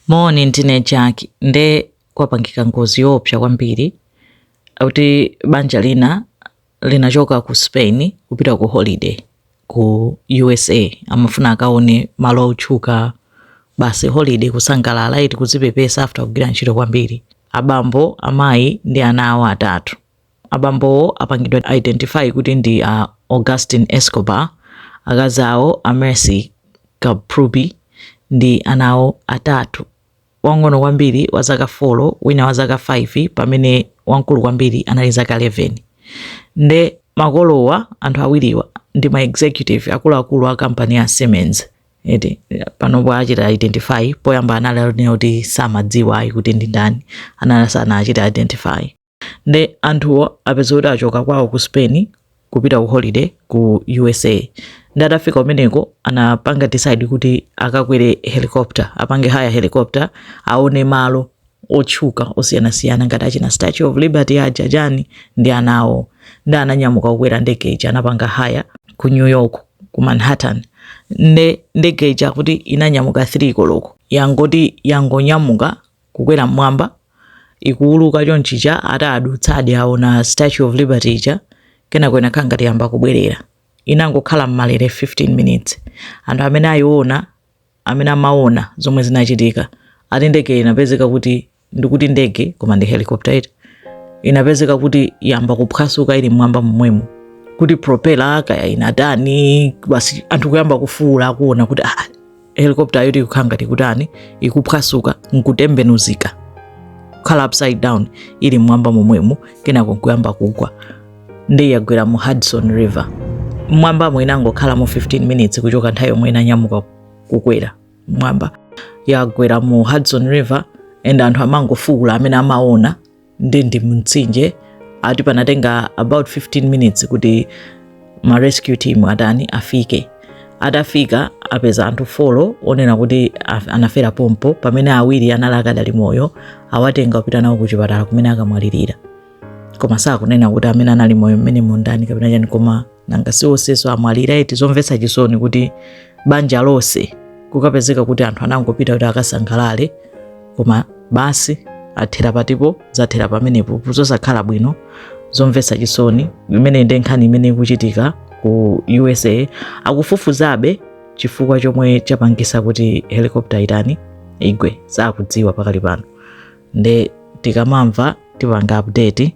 Moni, ndine Jack. Nde kwapangika ngozi yoopsa kwambiri kuti banja lina linachoka ku Spain kupita ku holiday ku USA, amafuna akaone malo otchuka basi holiday kusangalala eti kuzipepesa after kugwira ntchito kwambiri. Abambo, amayi ndi ana awo atatu. Abambowo apangidwa identify kuti ndi a Agustin Escobar, akazi awo a Merce Camprubi ndi ana awo atatu, wang'ono kwambiri wa zaka 4, wina wa zaka 5 pamene wamkulu kwambiri anali zaka 11. Nde makolowa, anthu awiriwa ndi ma executive akuluakulu a kampani ya Siemens. Eti panopo achita identify, poyamba analinena kuti samadziwa ayi kuti ndi ndani, anali sanachite identify. nde anthuwo apeza kuti achoka kwawo ku spain kupita ku holiday ku usa nde atafika kumeneko anapanga decide kuti akakwere helicopter apange hire helicopter aone malo otchuka osiyanasiyana ngati achina statue of liberty aja chani ndi ana awo nde ananyamuka kukwera ndege ija anapanga hire ku new york ku manhattan nde ndege ija akuti inanyamuka 3 koloko yangoti yangonyamuka kukwera mmwamba ikuwuluka chonchija atadutsadi aona statue of liberty ija kenako inakhala ngati yamba kubwerera inangokhala mmalere 15 minutes anthu amene ayiona amene amaona zomwe zinachitika ati ndege inapezeka kuti ndikuti ndege koma ndi helicopter eti inapezeka kuti yamba kuphwasuka ili mmwamba momwemo kuti propela kaya inatani basi anthu kuyamba kufuula akuona kuti ah, helicopter yoti ikukhala ngati kutani ikuphwasuka nkutembenuzika kukhala upside down ili mmwamba momwemo kenako nkuyamba kugwa nde yagwera mu hudson river mmwambamo inangokhalamo 15 minutes kuchoka nthawi yomwe inanyamuka kukwera mmwamba yagwera mu hudson river and anthu amangofuula amene amaona ndi mumtsinje ati panatenga about 15 minutes kuti ma rescue team atani afike atafika apeza anthu folo onena kuti af- anafera pompo pamene awiri anali akadali moyo awatenga kupita nawo kuchipatala kumene akamwalirira koma sakunena kuti amene anali moyo mmenemo ndani kapena chani koma nanga si onsewo amwalira eti zomvetsa chisoni kuti banja lonse kukapezeka kuti anthu anangopita kuti akasangalale koma basi athera patipo zathera pamenepo zosakhala bwino zomvetsa chisoni imeneyo ndi nkhani imene ikuchitika ku usa akufufuzabe chifukwa chomwe chapangisa kuti helikopta itani igwe sakudziwa pakali pano nde tikamamva tipanga update